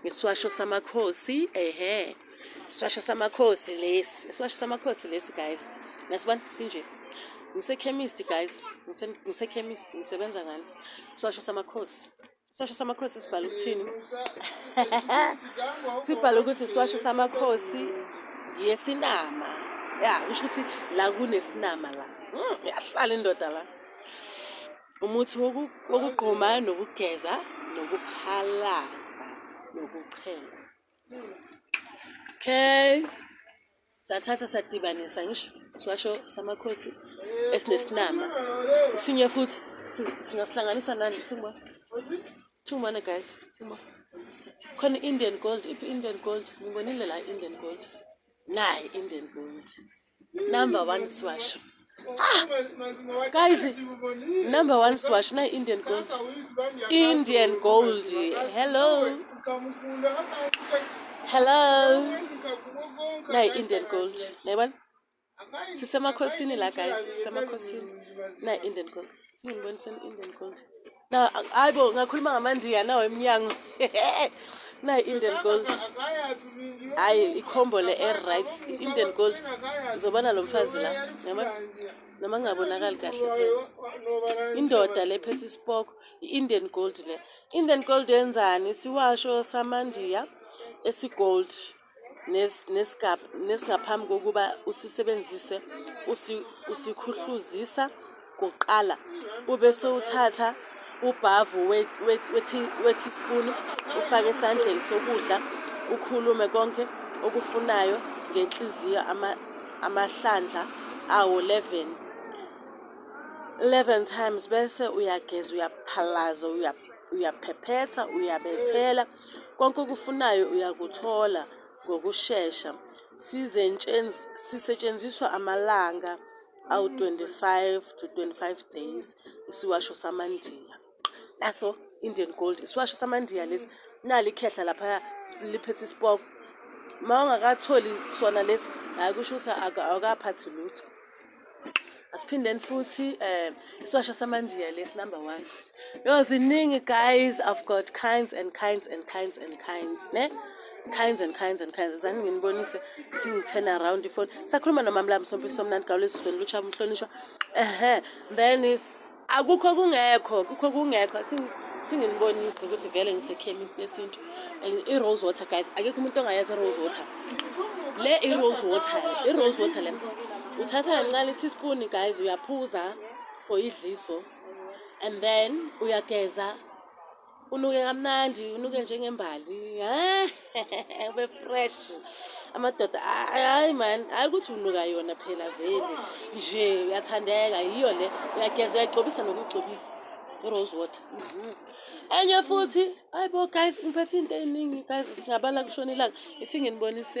Ngiswasho samakhosi ehe. Iswasho samakhosi lesi. Iswasho samakhosi lesi guys. Nasibona sinje. Ngisekhemist guys. Ngisekhemist ngisebenza ngani? Iswasho samakhosi. Iswasho samakhosi sibhala ukuthini? Sibhala ukuthi iswasho samakhosi yesinama. Ya, kusho ukuthi la kunesinama la. Hmm, yahlala indoda la. Umuthi wokugquma nokugeza nokuphalaza nokuchela. Okay. Sathatha sadibanisa ngisho siwasho samakhosi esinesinama. Isinye futhi singasihlanganisa nani thuma. Thuma na guys, thuma. Khona Indian gold, iphi Indian gold? Ngibonile la Indian gold. Nayi Indian gold. number one swasho ah guys number one swasho na indian gold indian gold hello hello na indian gold nayibona sisemakhosini la guys sisemakhosini na indian gold singibonisa indian gold Na hayi bo ngakhuluma ngamandiya nawo emnyango. Na Indian Gold. Hayi ikhombo le air right Indian Gold. Zobana lo mfazi la. Yaba noma ngabonakali kahle phela. Indoda le phethe isipoko i-Indian Gold le. Indian Gold yenzani? Siwasho samandiya esigold. nesingaphambi kokuba usisebenzise usikhuhluzisa kuqala ube sewuthatha ubhavu we-teaspoon ufake esandleni sokudla ukhulume konke okufunayo ngenhliziyo amahlandla awo 11 11 times bese uyageza uyaphalaza uyaphephetha uyabethela Konke okufunayo uyakuthola ngokushesha. Sisetshenziswa amalanga awu-25-25 days isiwasho samaNdiya. Naso Indian Gold isiwasho samaNdiya lesi, nali ikhehla laphaya liphethe isipoko. Uma ungakatholi sona lesi, hhayi kusho ukuthi awukaphathi lutho. asiphindeni futhi um eh, isiwasha samandiya lesi number one yo ziningi guys i've got kinds and kinds and kinds and kinds ne kinds and kinds and kinds zani nginibonise ukuthi ngi-turn around ifoni sakhuluma nomamlami sompisi somnandi gawulezizweni lutsha mhlonishwa ehe then is akukho kungekho kukho kungekho thinginibonise ukuthi vele ngisekhemist yesintu and i-rose water guys akekho umuntu ongayazi i-rose water le i-rose water i-rose water le uthatha kancane i-teaspoon guys uyaphuza for idliso and then uyageza unuke kamnandi unuke njengembali ube fresh amadoda hayi mani hayi ukuthi unuka yona phela vele nje uyathandeka yiyo le uyageza uyayigcobisa nokugcobisa irose water mhm. enye futhi hayi bo guys ngiphethe into eyiningi guys singabala kushona ilanga ithi nginibonise